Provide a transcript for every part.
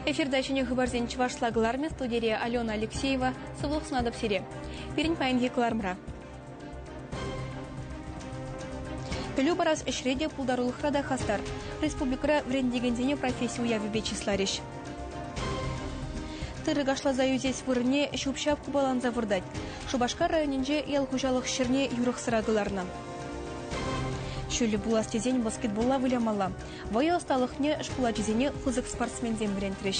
Эфирта ҫӗнӗ хыпарсен чӑвашла кӑлармӗ студире Алена Алексеева. Сывлӑх сунатӑп сире. Пирӗн паянхи кӑларӑмра Пӗлӳ парас ӗҫре те пултарулӑхра та хастар. Республикӑра вӗрентекенсене професси уявӗпе чысларӗҫ. Тырӑ кашласа ӳсес вырӑнне ҫӳп-ҫап купаланса выртать. Шупашкар районӗнче ял хуҫалӑх ҫӗрне юрӑхсӑра кӑларнӑ. Ҫӳллӗ пулас тесен баскетболла вылямалла. Вӑй ӑсталӑхне шкул ачисене пысӑк спортсменсем вӗрентрӗҫ.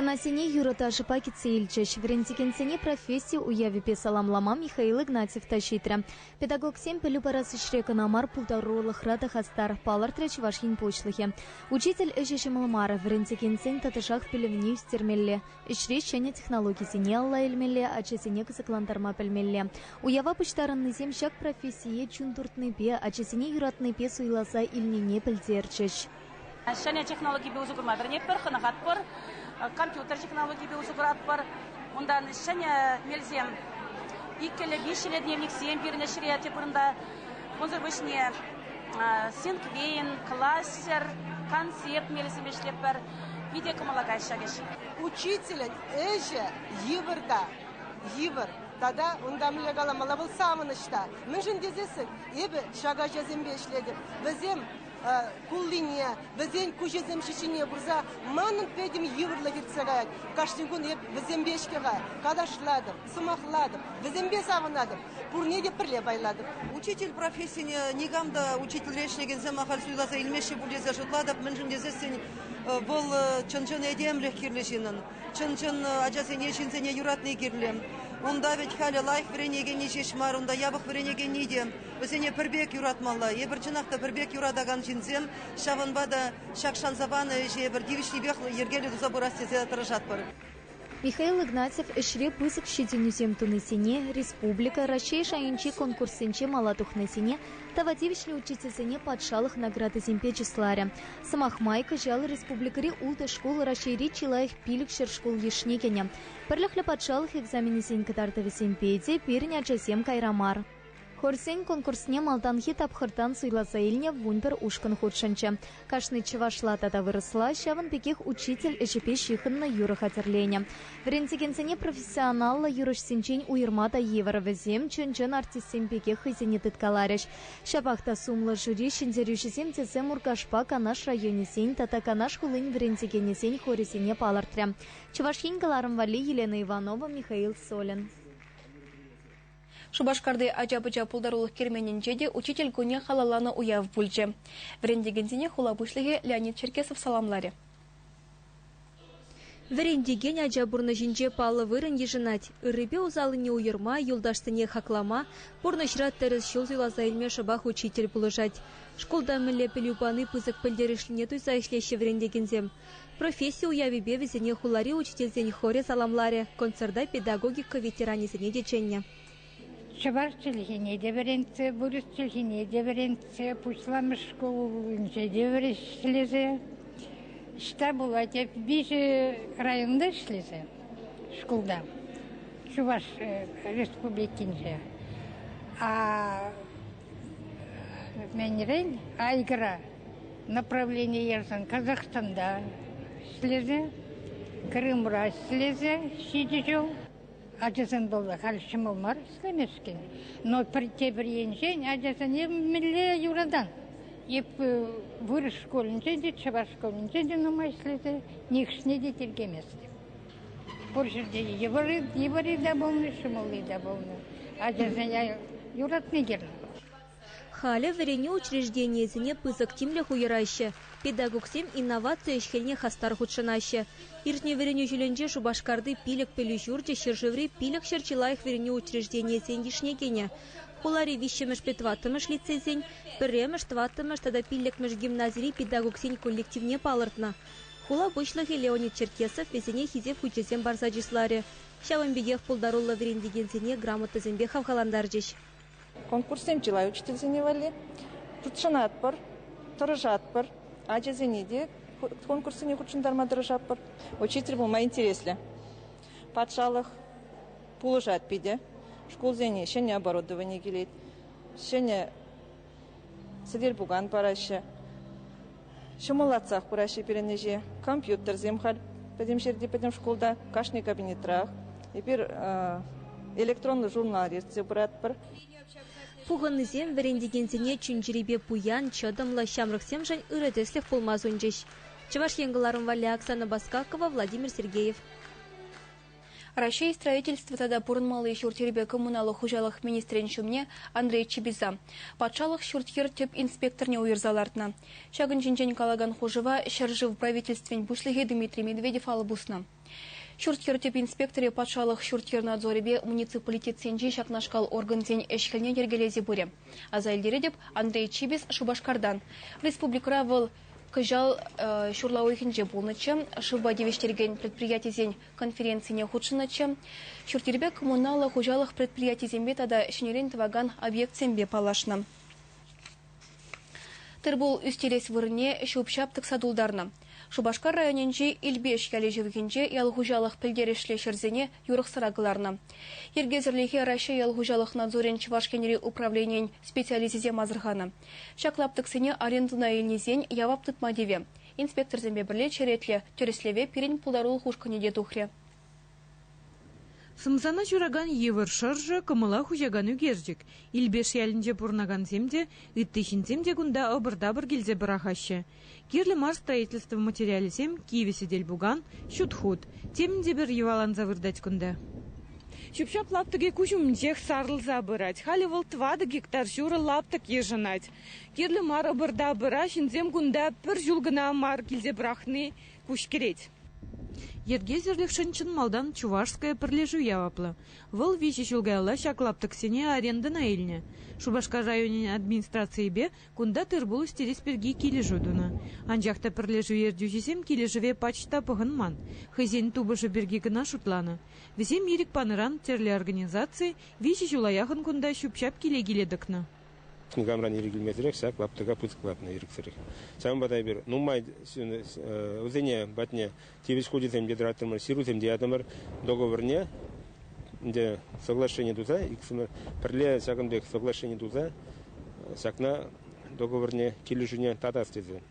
Хӑнасене юрӑ-ташӑпа кӗтсе илчӗҫ. Вӗрентекенсене професси уявӗпе саламлама Михаил Игнатьев та ҫитрӗ. Педагогсем пӗлӳ парас ӗҫре кӑна мар, пултарулӑхра та хастар, палӑртрӗ Чӑваш Ен Пуҫлӑхӗ. Учитель ӗҫӗ ҫӑмӑл мар, вӗрентекенсен тӑтӑшах пӗлӗвне ӳстермелле, ӗҫре ҫӗнӗ технологисене алла илмелле, ачасене кӑсӑклантарма пӗлмелле. Уява пуҫтарӑннисем ҫак профессие чун туртнипе, ачасене юратнипе суйласа илнине пӗлтерчӗҫ. Ҫӗнӗ технологипе усӑ курма вӗренетпӗр, хӑнӑхатпӑр. Компьютер технологипе усӑ куратпӑр. Унтан ҫӗнӗ мелсем, иккӗллӗ, виҫҫӗллӗ дневниксем пирӗн ӗҫре тӗп вырӑнта. Унсӑр пуҫне синквейн, кластер, концепт мелӗсем ӗҫлетпӗр. Питӗ кӑмӑла каҫ ҫак ӗҫ. Учителӗн ӗҫӗ йывӑр та йывӑр. Тата унта мӗнле каламалла вӑл савӑнӑҫ та. Мӗншӗн тесессӗн эпӗ ҫак ачасемпе ӗҫлетӗп. Вӗсем куллине, вӗсен куҫӗсем ҫиҫине курса манӑн пӗтӗм йывӑрлӑх иртсе каять. Кашни кун эп вӗсемпе ӗҫке калашлатӑп, сӑмахлатӑп, вӗсемпе савӑнатӑп, пурне те пӗрле пайлатӑп. Учитель профессине никам та учительре ӗҫлекенсем ахаль суйласа илмеҫҫӗ пуль тесе шутлатӑп, мӗншӗн тесессӗн вӑл чӑн-чӑн этемлӗх кирлӗ ҫыннӑн. Чӑн-чӑн ачасене, ҫынсене юратни кирлӗ. Унта вӗт халӗ лайӑх вӗренекенни ҫеҫ мар, унта япӑх вӗренекенни те. Вӗсене пӗр пек юратмалла. Эпир чӑнах та пӗр пек юратакан ҫынсем, ҫавӑнпа та ҫак шанса панӑ ӗҫе пӗр тивӗҫлипех йӗркеллӗ туса пырас тесе тӑрӑшатпӑр. Михаил Игнатьев ӗҫре пысӑк ҫитӗнӳсем тунисене, республика, Раҫҫей шайӗнчи конкурссенче мала тухнисене тава тивӗҫлӗ учительсене патшалӑх наградисемпе чысларӗ. Сӑмах май, кӑҫал республикӑри ултӑ шкул Раҫҫейри чи лайӑх пилӗкҫӗр шкул йышне кӗнӗ. Пӗрлӗхлӗ патшалӑх экзаменӗсен кӑтартӑвӗсемпе те пирӗн ачасем кайра мар. Хорсен конкурсне малтанхи тапхӑртан суйласа илнӗ вунпӗр ушкӑн хутшӑнчӗ. Кашни чӑвашла тата вырӑсла, ҫавӑн пекех учитель ӗҫӗпе ҫыхӑннӑ юрӑ хатӗрленӗ. Вӗрентекенсене профессионаллӑ юрӑҫсенчен уйӑрма та йывӑр, вӗсем чӑн-чӑн артистсем пекех хӑйсене тыткаларӗҫ. Ҫапах та сумлӑ жюри ҫӗнтерӳҫӗсем тесе Муркашпа Канаш районӗсен тата Канаш хулин вӗрентекенӗсен хорӗсене палӑртрӗ Чӑваш Ен кӑларӑм валли Елена Иванова, Михаил Солин. Шупашкарти ача-пӑча пултарулӑх керменӗнче те Учитель кунӗ халалланӑ уяв пулчӗ. Вӗрентекенсене хула пуҫлӑхӗ Леонид Черкесов саламларӗ. Вӗрентекен ача пурнӑҫӗнче паллӑ вырӑн йышӑнать. Ыррипе усаллине уйӑрма, юлташсене хаклама, пурнӑҫра тӗрӗс ҫул суйласа илме шӑпах учитель пулӑшать. Шкулта мӗнле пӗлӳ пани пысӑк пӗлтерӗшлине туйса ӗҫлеҫҫӗ вӗрентекенсем. Професси уявӗпе вӗсене хулари учительсен хорӗ саламларӗ, концерта педагогика ветеранӗсене те чӗннӗ. Чӑваш чӗлхине те вӗрентсе, вырӑс чӗлхине те вӗрентсе, пуҫламӑш шкул умӗнче те вӗрӗшлесе, ӑҫта пулать, эп виҫӗ районта ӗҫлесе шкулта, Чӑваш Республикинче. А менрен айгра направленийӗшӗн Казахстанда ӗҫлесе, Крымра ӗҫлесе ҫичӗ ҫул Ачасем пулса халь ҫӑмӑл мар ӗҫлемешкӗн, но пӗр тепӗр енчен ачасене мӗнле юратан. Эп вырӑс шкулӗнче те, чӑваш шкулӗнче те нумай ӗҫлесе нихӑшне те тиркеместӗм. Пур ҫӗрте йывӑрри, йывӑрри те пулнӑ, ҫӑмӑлли те пулнӑ. Ачасене юратни кирлӗ. Халӗ вӗренӳ учрежденийӗсене пысӑк тимлӗх уйӑраҫҫӗ, педагогсем инноваци ӗҫ-хӗлне хастар хутшӑнаҫҫӗ. Иртнӗ вӗренӳ ҫулӗнче Шупашкарти пилӗк пӗлӳ ҫурчӗ ҫӗршыври пилӗкҫӗр чи лайӑх вӗренӳ учрежденийӗсен йышне кӗнӗ. Хулари виҫҫӗмӗш педтӑваттӑмӗш лицейсен, пӗрремӗш, тӑваттӑмӗш тата пиллӗкмӗш гимназири педагогсен коллективне палӑртнӑ. Хула пуҫлӑхӗ Леонид Черкесов вӗсене хисеп хучӗсем парса чысларӗ, ҫавӑн пекех пултаруллӑ вӗрентекенсене грамотӑсемпе хавхалантарчӗҫ. Конкурссем чылай учительсене валли. Хутшӑнатпӑр, тӑрӑшатпӑр. Ачасене те конкурссене хутшӑнтарма тӑрӑшатпӑр. Учитель пулма интереслӗ. Патшалӑх пулӑшать питӗ. Шкулсене ҫӗнӗ оборудовани килет, ҫӗнӗ сӗтел-пукан параҫҫӗ. Ҫӑмӑллатсах пыраҫҫӗ пирӗн ӗҫе. Компьютерсем халь пӗтӗм ҫӗрте, пӗтӗм шкулта, кашни кабинетрах. Эпир электронлӑ журнал ертсе пыратпӑр. Пухӑннисем вӗрентекенсене чун-чӗрипе пуян, чӑтӑмлӑ, ҫамрӑксемшӗн ырӑ тӗслӗх пулма сунчӗҫ. Чӑваш Ен кӑларӑм валли Оксана Баскакова, Владимир Сергеев. Раҫҫей строительство тата пурӑнмалли ҫурт-йӗрпе коммуналлӑ хуҫалӑх министрӗн ҫумне Андрей Чебиса патшалӑх ҫурт-йӗр тӗп инспекторне уйӑрса лартнӑ. Ҫакӑн ҫинчен калакан хушӑва ҫӗршыв Правительствин Пуҫлӑхӗ Дмитрий Медведев алӑ пуснӑ. Ҫурт-йӗр тӗп инспекторӗ патшалӑх ҫурт-йӗр надзорӗпе муниципалитетсенчи ҫакнашкал органсен ӗҫ-хӗлне йӗркелесе пырӗ. Аса илтеретӗп, Андрей Чибис Шупашкартан. Республикӑра вӑл Кӑҫал ҫурла уйӑхӗнче пулнӑччӗ. Шывпа тивӗҫтерекен предприятисен конференцине хутшӑннӑччӗ. Ҫурт-йӗрпе коммуналлӑ хуҫалӑх предприятисемпе тата ҫӗнӗрен тӑвакан объектсемпе паллашнӑ. Тырпул ӳстерес вырӑнне ҫуп-ҫап тӑкса тултарнӑ. Шупашкар районӗнчи Илпеш ялӗ ҫывӑхӗнче ял хуҫалӑх пӗлтерӗшлӗ ҫӗрсене юрӑхсӑра кӑларнӑ. Йӗркесӗрлӗхе Раҫҫей ял хуҫалӑх надзорӗн Чӑваш Енри управленийӗн специалисчӗсем асӑрханӑ. Ҫак лаптӑксене арендӑна илнисен явап тытма тивӗ. Инспекторсемпе пӗрле черетлӗ тӗрӗслеве пирӗн пултарулӑх ушкӑнӗ те тухрӗ. Сӑмсана ҫуракан йывӑр шӑршӑ кӑмӑла хуҫакан ӳкерчӗк. Илпеш ялӗнче пурӑнакансем те, ытти ҫынсем те кунта ӑпӑр-тапӑр килсе пӑрахаҫҫӗ. Кирлӗ мар строительство материалӗсем кивӗ сӗтел-пукан, ҫут хут. Темӗн те пӗр йӑваланса выртать кунта. Ҫӳп-ҫап лаптӑкӗ куҫ умӗнчех сарӑлса пырать. Халӗ вӑл тӑватӑ гектар ҫурӑ лаптӑк йышӑнать. Кирлӗ мар ӑпӑр-та пыра ҫынсем кунта пӗр ҫул кӑна мар килсе пӑрахни куҫкӗрет. Йӗркесӗрлӗхшӗн чӑн малтан Чувашская пӗрлешӳ яваплӑ. Вӑл виҫӗ ҫул каялла ҫак лаптӑксене арендӑна илнӗ. Шупашкар районӗн администрацийӗпе Кунта тыр-пул ӳстерес пирки килӗшӳ тунӑ. Анчах та пӗрлешӳ ертӳҫисем килӗшӗве пач та пӑхӑнман, хӑйсен тупӑшӗ пирки кӑна шутланӑ. Вӗсем ирӗк панӑран тӗрлӗ организаци виҫӗ ҫула яхӑн кунта ҫӳп-ҫап киле-киле тӑкнӑ. Никамран ирӗк илмесӗрех ҫак лаптӑка пысӑклатнӑ ирӗксӗрех. Ҫавӑнпа та эпир нумай вӗсене патне тивӗҫ хучӗсем те тӑраттӑмӑр, ҫырусем те ятӑмӑр. Договорне ӗнтӗ соглашение туса, иксӗмӗр пӗрле ҫакӑн пек соглашение туса ҫакна договорне килӗшӳне татас тесе.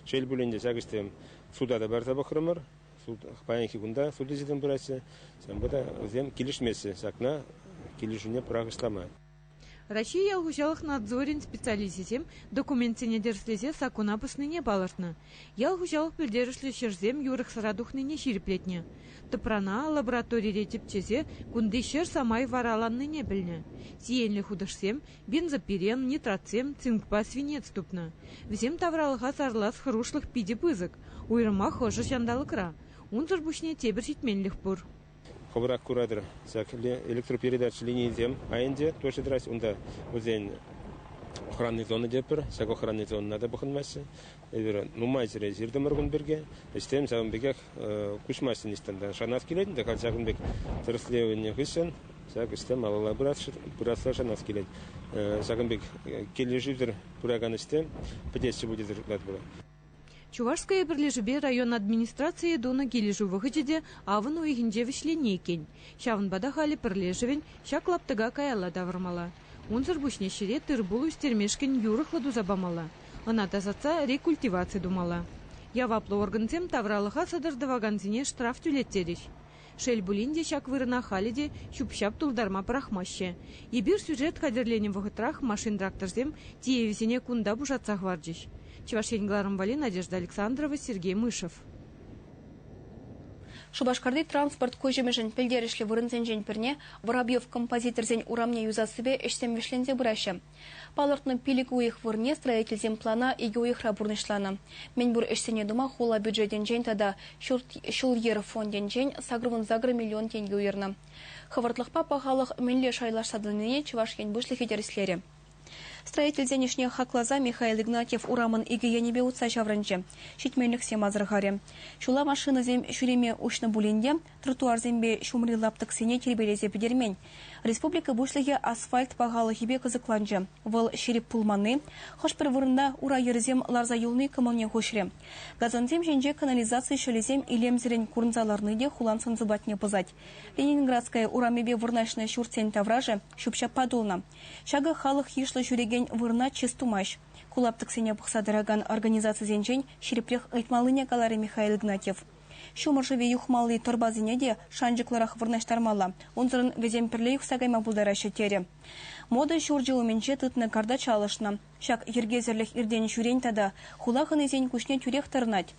Шел пулин те ҫак ӗҫсем суда та парса пӑхрӑмӑр. Суд, паянхи кунта суд ӗҫӗсем пыраҫҫӗ. Ҫавӑнпа та вӗсем килӗшмеҫҫӗ ҫакна килӗшӳне пӑрахӑҫлама. Раҫҫей ял хуҫалӑх надзорӗн специалисчӗсем документсене тӗрӗслесе саккуна пӑснине палӑртнӑ, ял хуҫалӑх пӗлтерӗшлӗ ҫӗрсем юрӑхсӑра тухнине ҫирӗплетнӗ, тӑпрана лабораторире тӗпчесе кунти ҫӗр самай вараланнине пӗлнӗ. Сиенлӗ хутӑшсем бензопирен, нитратсем, цинкпа свинец тупнӑ. Вӗсем тавралӑха сарлас хӑрушлӑх питӗ пысӑк, уйрӑмах ӑшӑ ҫанталӑкра. Унсӑр пуҫне тепӗр ҫитменлӗх пур. хӑвӑрах куратӑр. Ҫак электропередач линийӗсем айӗнче тоже тӑраҫҫӗ. Унта вӗсен охранный зони те пӗр. Ҫак охранный зонӑна та пӑхӑнмаҫҫӗ. Эпир нумай ҫӗре ҫыртӑмӑр кун пирки. Ӗҫсем ҫавӑн пекех куҫмаҫҫӗ ниҫтан та. Шанас килет ӗнтӗ халь ҫакӑн пек тӗрӗслевӗнӗ хыҫҫӑн ҫак ӗҫсем малалла пырасса шанас килет. Ҫакӑн пек килӗшӳсӗр пыракан ӗҫсем пӗтеҫҫӗ пуль тесе шутлатпӑр. Чувашское пӗрлешӳпе район администрацийӗ тунӑ килӗшӳ вӑхӑчӗ те авӑн уйӑхӗнче вӗҫленнӗ иккен. Ҫавӑнпа та халӗ пӗрлешӗвӗн ҫак лаптӑка каялла тавӑрмалла. Унсӑр пуҫне ҫӗре тыр-пул ӳстермешкӗн юрӑхлӑ туса памалла, ӑна тасатса рекультиваци тумалла. Яваплӑ органсем тавралӑха сӑтӑр тӑвакансене штраф тӳлеттерӗҫ. Шел пулин те, ҫак вырӑна халӗ те ҫӳп-ҫап тултарма пӑрахмаҫҫӗ. Эпир сюжет хатӗрленӗ вӑхӑтрах машин-тракторсем тиевӗсене кунта пушатса хӑварчӗҫ. Чӑваш Ен кӑларӑмвали Надежда Александрова, Сергей Мышев. Шупашкарти транспорт куҫӑмӗшӗн пӗлтерӗшлӗ вырӑнсенчен пӗрне Воробьев композиторсен урамне юсассипе ӗҫсем вӗҫленсе пыраҫҫӗ. Палӑртнӑ пилӗк уйӑх вырӑнне строительсем плана икӗ уйӑхра пурнӑҫланӑ. Мӗнпур ӗҫсене тума хула бюджетӗнчен тата ҫул-йӗр фондӗнчен сакӑрвун-сакӑр миллион тенкӗ уйӑрнӑ. Хӑвӑртлӑхпа пахалӑх мӗнле шайлашса тӑнине Чӑваш Ен Пуҫлӑхӗ тӗрӗслерӗ. Строительсен ӗҫне хакласа Михаил Игнатьев урамӑн икӗ енӗпе утса ҫаврӑнчӗ, ҫитменлӗхсем асӑрхарӗ. Ҫула машинӑсем ҫӳреме уҫнӑ пулин те тротуарсемпе ҫумри лаптӑксене тирпейлесе пӗтермен. Республика Пуҫлӑхӗ асфальт пахалӑхӗпе кӑсӑкланчӗ. Вӑл ҫирӗп пулманни, хӑш-пӗр вырӑнта ура йӗрӗсем ларса юлни кӑмӑлне хуҫрӗ. Газонсем ҫинче канализаци ҫӑлӗсем илемсӗррӗн курӑнса ларни те хулан сӑн-сӑпатне пӑсать. Ленинградская урамӗпе вырнаҫнӑ ҫуртсен таврашӗ ҫӳп-ҫаппа тулнӑ. Ҫакӑ халӑх йышлӑ ҫӳрекен вырӑна чыс тумасть. Ку лаптӑксене пӑхса тӑракан организацисенчен ҫирӗпрех ыйтмаллине каларӗ Михаил Игнатьев. Ҫумӑр шывӗ юхмалли тӑрпасене те шанчӑклӑрах вырнаҫтармалла. Унсӑрӑн вӗсем пӗрле юхса кайма пултараҫҫӗ, терӗ. Мода ҫурчӗ умӗнче тытнӑ карта чалӑшнӑ. Ҫак йӗркесӗрлӗх иртен-ҫӳрен тата хула хӑнисен куҫне тӳрех тӑрӑнать.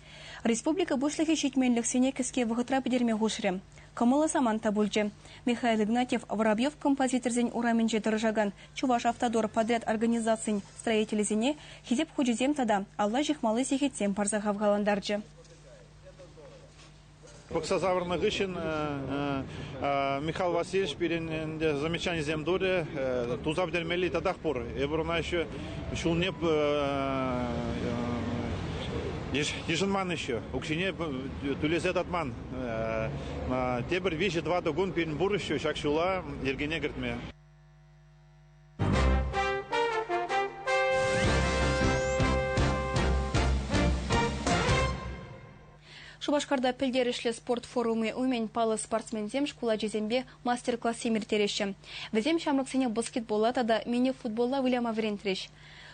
Республика Пуҫлӑхӗ ҫитменлӗхсене кӗске вӑхӑтра пӗтерме хушрӗ. Кӑмӑллӑ самант та пулчӗ. Михаил Игнатьев Воробьев композиторсен урамӗнче тӑрӑшакан Чӑваш автодор подряд организацин строителӗсене Хисеп хучӗсем тата алла ҫыхмалли сехетсем парса хавхалантарчӗ. Пӑхса савӑрнӑ хыҫҫӑн Михаил Васильевич пирӗн ӗнтӗ замечанисем турӗ, туса пӗтермелли татах пур. Эпир ӑна еще ҫулне йышӑнман еще, укҫине тӳлесе татман. Тепӗр виҫӗ-тӑватӑ кун пирӗн пур еще ҫак ҫула йӗркене кӗртме. Шупашкарта пӗлтерӗшлӗ спорт форумӗ умӗн паллӑ спортсменсем шкул ачисемпе мастер-классем ирттереҫҫӗ. Вӗсем ҫамрӑксене баскетболла тата мини-футболла выляма вӗрентрӗҫ.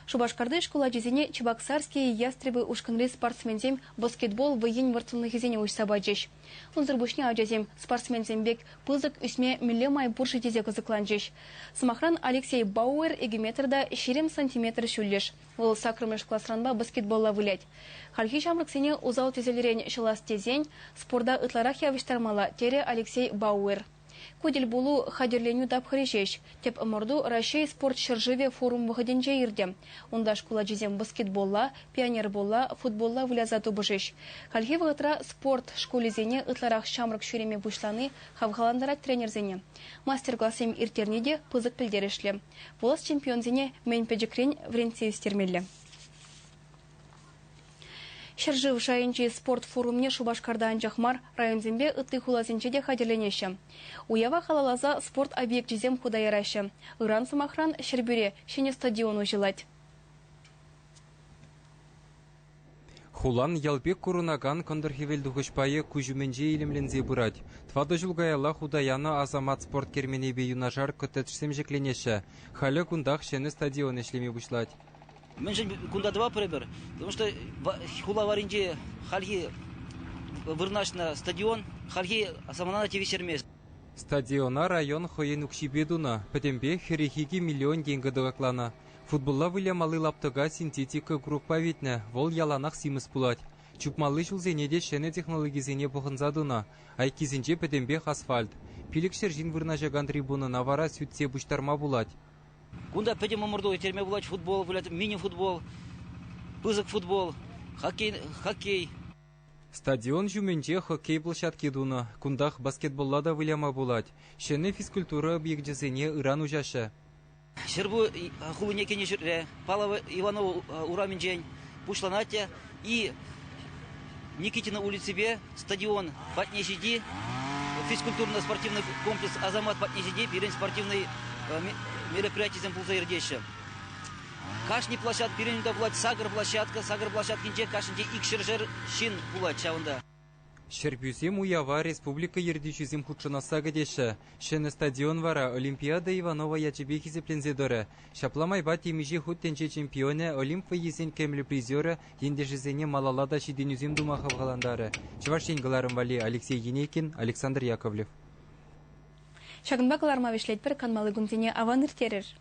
Шупашкарти шкул ачисене Чебоксарские ястребы ушкӑнри спортсменсем баскетбол вӑййин вӑрттӑнлӑхӗсене уҫса пачӗҫ. Унсӑр пуҫне ачасем спортсменсем пек пысӑк ӳсме мӗнле май пур-ши тесе кӑсӑкланчӗҫ. Сӑмахран, Алексей Бауэр эгиметрта ҫирӗм сантиметр ҫӳллӗш, вӑл саккӑрмӗш класранпа баскетболла вылять. Хальхи ҫамрӑксене усал тӗселрен ҫӑлас тесен спорта ытларах явӑҫтармалла, терӗ Алексей Бауэр. Ку тӗлпулу хатӗрленӳ тапхӑрӗ ҫеҫ. Тӗп ӑмӑрту Раҫҫей спорт ҫӗршывӗ форум вӑхӑтӗнче иртӗ. Унта шкул ачисем баскетболла, пионерболла, футболла выляса тупӑшӗҫ. Хальхи вӑхӑтра спорт шкулӗсене ытларах ҫамрӑк ҫӳреме пуҫлани хавхалантарать тренерсене. Мастер-классем ирттерни те пысӑк пӗлтерӗшлӗ. Пулас чемпионсене мӗн пӗчӗкрен вӗрентсе ӳстермелле. Ҫӗршыв шайӗнчи спорт форумне Шупашкарта анчах мар, районсемпе ытти хуласенче те хатӗрленеҫҫӗ. Уява халалласа спорт объекчӗсем хута яраҫҫӗ. Ыран, сӑмахран, Ҫӗрпӳре ҫӗнӗ стадион уҫӑлать. Хулан ял пек курӑнакан кӑнтӑр-хӗвелтухӑҫ пайӗ куҫ умӗнче илемленсе пырать. Тӑватӑ ҫул каялла хута янӑ Асамат спорт керменӗпе юнашар коттеджсем ҫӗкленеҫҫӗ. Халӗ кунтах ҫӗнӗ стадион ӗҫлеме пуҫлать. Мӗншӗн кунта тӑваппӑр Потому что хула варринче хальхи вырнаҫнӑ стадион хальхи самана тивӗҫтермест. Стадиона район хӑйӗн укҫипе тунӑ, пӗтӗмпех хӗрӗх икӗ миллион тенкӗ тӑкакланӑ. Футболла вылямалли лаптӑка синтетика курӑкпа витнӗ, вӑл яланах симӗс пулать. Чупмалли ҫулсене те ҫӗнӗ технологисене пӑхӑнса тунӑ, айккисенче пӗтӗмпех асфальт. Пилӗк ҫӗр ҫын вырнаҫакан трибунӑна вара сӳтсе пуҫтарма пулать. Кунта пӗтӗм ӑмӑрту ирттерме пулать. Футбол вылять, мини-футбол, пысӑк футбол, хоккей. хоккей. Стадион ҫумӗнче хоккей площадки тунӑ. Кунтах баскетболла та выляма пулать. Ҫӗнӗ физкультура объекчӗсене ыран уҫаҫҫӗ. Ҫӗрпу хулине кӗнӗ ҫӗрре, Паллово Иваново урамӗнчен, пуҫланать те. И Никитина улиципе стадион патне ҫити, физкультурно-спортивный комплекс Азамат патне ҫити пирӗн спортивный мероприятисем пулса иртеҫҫӗ. Кашни площадка, пирӗн та пулать сакӑр площадка, сакӑр площадкинче кашнинче икҫӗршер ҫын пулать ҫавӑнта. Ҫӗрпӳсем уява республика ертӳҫисем хутшӑнасса кӗтеҫҫӗ. Ҫӗнӗ стадион вара Олимпиада Иванова ячӗпе хисепленсе тӑрӗ. Ҫапла майпа темиҫе хут тӗнче чемпионӗ, Олимп вӑййисен кӗмӗл призерӗ ентешӗсене малалла та ҫитӗнӳсем тума хавхалантарӗ. Чӑваш Ен кӑларӑм валли Алексей Енейкин, Александр Яковлев. Ҫакӑнпа кӑларӑма вӗҫлетпӗр, канмалли кунсене аван ирттерӗр!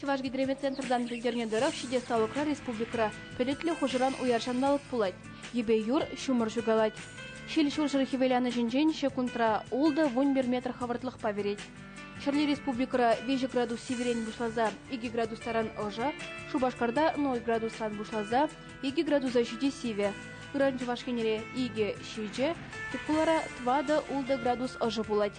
Чӑваш гидромети центртан пӗлтернӗ тӑрӑх, ҫитес-талӑкра республикӑра пӗлӗтлӗ хушӑран уяр ҫанталӑк пулать. Йӗпе юр, ҫумӑр ҫукалать. Ҫил ҫурҫӗр хӗвеланӑҫӗнчен ҫекундра ултӑ-вун пӗр метр хӑвӑртлӑхпа вӗрет. Ҫӗрле республикӑра виҫӗ градус сивӗрен пуҫласа икӗ градус таран ӑшӑ, Шупашкарта ноль градусран пуҫласа икӗ градуса ҫити сивӗ. Ыран Чӑваш Енре икӗ ҫичӗ, тек хулара тӑватӑ-ултӑ градус ӑшӑ пулать.